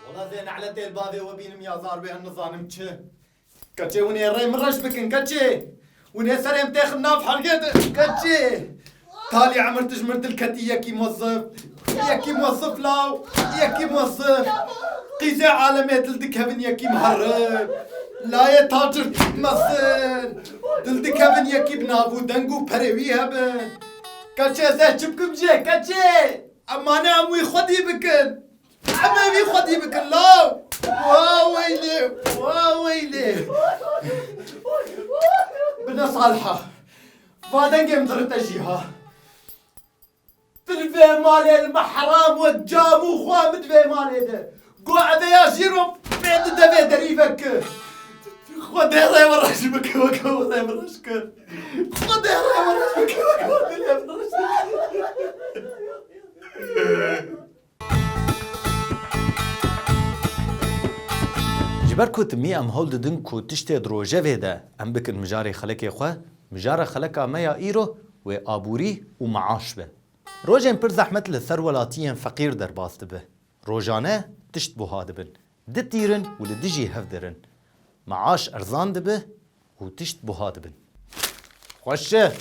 Wala zê ne'letê li bavê we bînim ya zar wê em nizanim çi. Keçê hûn ê rê min reş bikin keçê. Hûn ê serê min tê xin nav helgê de keçê. Talî emir tij mir dil ketî yekî mozif, yekî mozif law, yekî mozif. Qîzê alemê dil dikevin yekî miherib. Layê tacir mezin. Dil dikevin yekî bi nav û deng û perê wî hebin. Keçê zeh çi bikim jê keçê. Em mane em wî xwedî bikin. Em ê wî xwedî bikin law. Wa weylê, wa weylê. Bine Saliha. Va dengê min dirite jî ha. Tu li vê malê li me heram wek camû xwe min di vê malê de. Go ebe ya jîro pê di devê derî veke. Xwe dê rêwereş bike weke wan rêwereş ke. Xwe dê rêwereş bike weke wan dê rêwereş Ji ber ku timî em hewl didin ku tiştê di rojevê de em bikin mijarê xelekê xwe, mijara xeleka me ya îro wê aborî û meaş be. Rojên pir zehmet li ser welatiyên feqîr derbas dibe. Rojane tişt buha dibin. Di tîrin û li dijî hev dirin. Meaş erzan dibi û tişt buha dibin. Xweş e.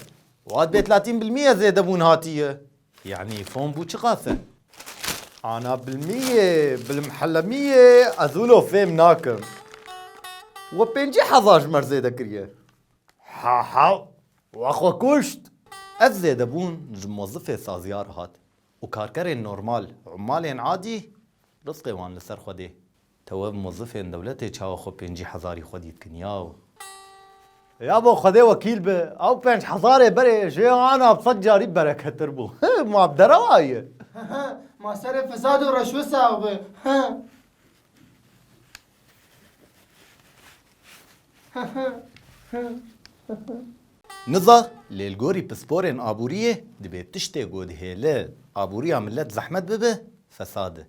Wat bêt latîn bilmîye zêdebûn hatiye. Yanî fon bû çiqas e. Ana bilmîye, bilimhelemîye ez wilo fêm nakim. We pêncî hezar ji mer zêde kiriye. Ha ha. We xwe kuşt. Ev zêdebûn ji mozifê saziyar hat. Û karkerên normal, ummalên adî risqê wan li ser xwedê. Tev mozifên dewletê çawa xwe pêncî hezarî xwe dîtkin yaw. Ya bo xwedê wekîl be, ew penc hezarê berê jê anav sed carî bereketir bû. Ma bi derewa ye. Ma serê fesad û reşwê sax be. Niza, lê li gorî pisporên aboriyê dibê tiştê godihêli aboriya milet zehmet bibe, fesad e.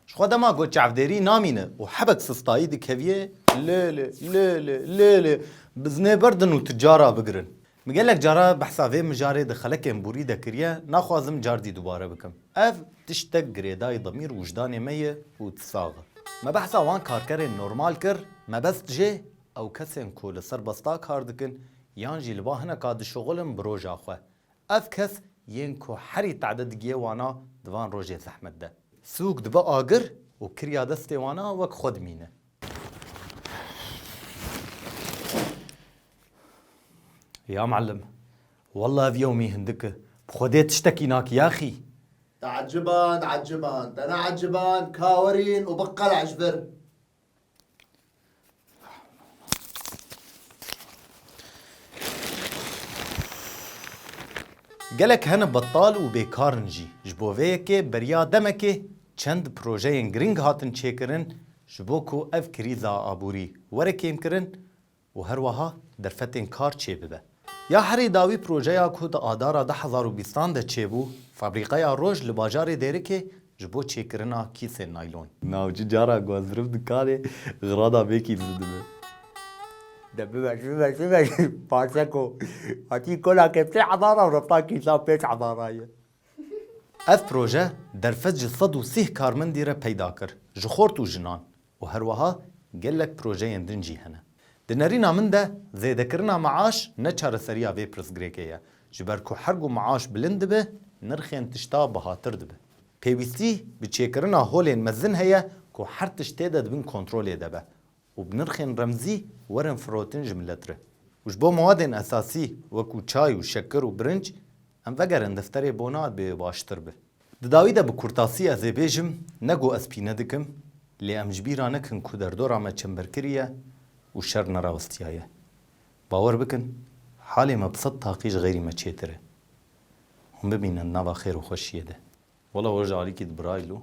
Ji xwe dema got çavdêrî namîne û hebek sistayî dikeviyê, lê lê, lê lê, lê lê, biznê berdin û ticara bigirin. Min gelek cara behsa vê mijarê di xelekên borî de kiriye, naxwazim cardî dubare bikim. Ev tiştek girêdayî demîr û wijdanê me ye û tu sax î. Me behsa wan karkerên normal kir, mebest jê ew kesên ku li serbesta kar dikin yan jî li ba hineka dişuxulin bi roja xwe. Ev kes yên ku herî tade digiye wana di van rojên zehmet de. Sûk dibe agir û kirya destê wana wek xwe dimîne. Ya Muallim, wallah ev yewmî hindik e, bi Xwedê tiştekî nakî axî. Te'eciban, eciban, tene'eciban, ka werîn û biqele'e ji vir. Gelek hene betal û bêkar in jî, ji bo vê yekê beriya demekê çend projeyên girîng hatin çêkirin ji bo ku ev krîza aborî were kêmkirin û her weha derfetên kar çêbibe. Ya herî dawî projeya ku di adara du hezar û bîstan de çêbû, fabrîqeya roj li bajarê Dêrikê ji bo çêkirina kîsên naylon. Navçî cara ku ez zirif dikanê xirada vê kîsî dibe. De bibe bibe bibe parseko hatî kola ke sê hezar a rifta kîsan pênc hezar a ye. Ev proje derfet ji sed û sih karmendî re peyda kir, ji xort û jinan û herweha gelek projeyên din jî hene. Di nerîna min de zêdekirina meaş ne çareseriya vê pirsgirêkê ye, ji ber ku her ku meaş bilind dibe nirxên tişta bihatir dibe. Pêwîstî bi çêkirina holên mezin heye ku her tişt tê de di bin kontrolê de be û bi nirxên remzî werin firotin ji milet re û ji bo mawadên esasî wekû çay û şekir û birinc em vegerin defterê bona dê baştir be. Di dawî de bi kurtasî ez ê bêjim ne ku ez pîne dikim lê em ji bîr a nekin ku derdora me çember kiriye û şer nerawistiyaye. Bawer bikin halê me bi sed taqî ji xêrî me çêtir e. Hûn bimînin di nava xêr û xweşiyê de. Wela we ji alîkî dibirayî lo.